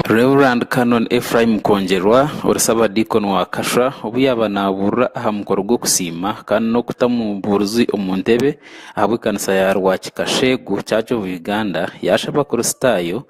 Rev Canon Ephraim Kongyerwa ori Sabadiikoni wa Kashwa obu yaaba nabuurira aha mukoro gw'okusiima kandi n'okutamu buurizi omu ntebe ahabw'ekanisa ya Rwakika Sheegu Church of Uganda yashaba Abakristaayo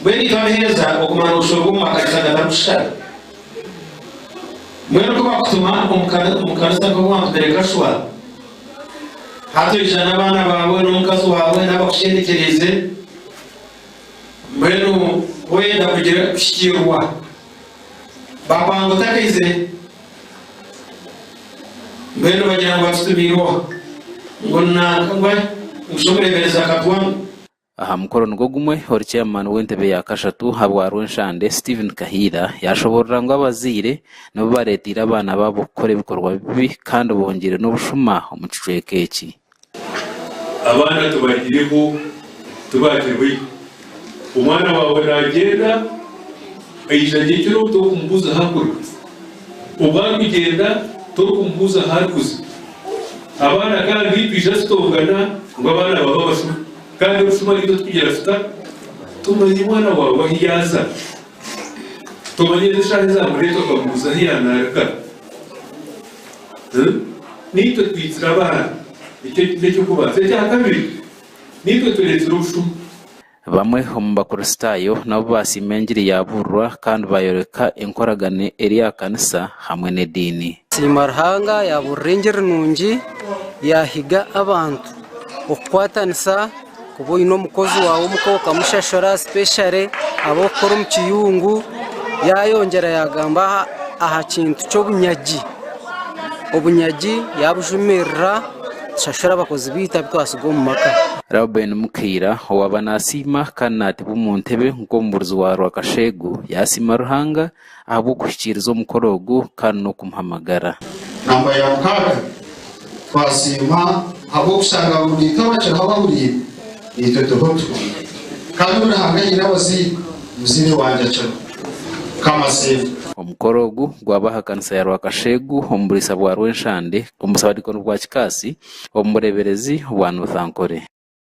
Mbwenu itwe abaheereza okumara obushoro bw'omu makanisa gatari kushishana? Mbwenu ku bakutuma omu kanisa nk'ow'abantu bereka shwa, hati oija n'abaana baawe n'omukazi waawe n'abakusherekyereize, mbwenu ku oyenda kugira kuhikiirwa, bakwanga otakaizire? Mbwenu bagira ngu batutumiire oha? Ngu nanka, ngu shi omureeberezi akatwamu? Aha mukoro nigwo gumwe, ori chairman w'entebe ya kashatu ha bwa Rwenshande, Steven Kahiira yashoboorora ngu abazaire nibo bareeteire abaana baabo kukora ebikorwa bibi kandi bongyeire n'obushuma omu kicweka eki. Abaana tubagireho tubagirwe. Omwana waawe naagyenda aija gye kiro torikumubuuza ahu arikuruga. Obu arikugyenda torikumubuuza ahu arikuza. Abaana kandi twija tutongana ngu abaana baaba abasuma kandi obushuma naitwe tukugira tuta? Tumanya omwana waawe ahu yaaza? Tomanya n'eshaaha ei yaamureetwa okamubuuza ahu yaanaaruga? Naitwe twiitsire abaana. Ekyo n'eky'okubanza. Ekyakabiri, naitwe tureetsire obushuma. Bamwe omu Bakristaayo nabo baasiima engiri yaabuurirwa kandi baayoreka enkoragana eri aha kanisa hamwe n'ediini. Siima Ruhanga yaabuurira engiri nungi yaahiga abantu okukwatanisa. Kuba oine omukozi waawe omuka okamushashura especially abu orikukora omu kiyungu. Yaayongyera yaagamba aha kintu ky'obunyagi. Obunyagi yaabujumirira, tushashure abakozi baitu abu twatsiga omu maka. Reuben Mukaira owaaba naasiima kandi naatebwa omu ntebe nk'omubuurizi wa rwakasheegu, yaasiima Ruhanga ahabw'okuhikiiriza omukoro ogu kandi n'okumuhamagara. Namba ya mukaaga, Twasiima ahabw'okushanga aboomeito abakiraho abahuriire. Naitwe turiho tuti, Kandi obu Ruhanga aine abazairwe, omuzaire wangye akiriho. Kamaseefu. Omukoro ogu gwaaba aha kanisa ya Rwakasheegu omu buriisa bwa Rwenshande omu busabadiikoni bwa Kikaasi omu bureeberezi bwa Northankore.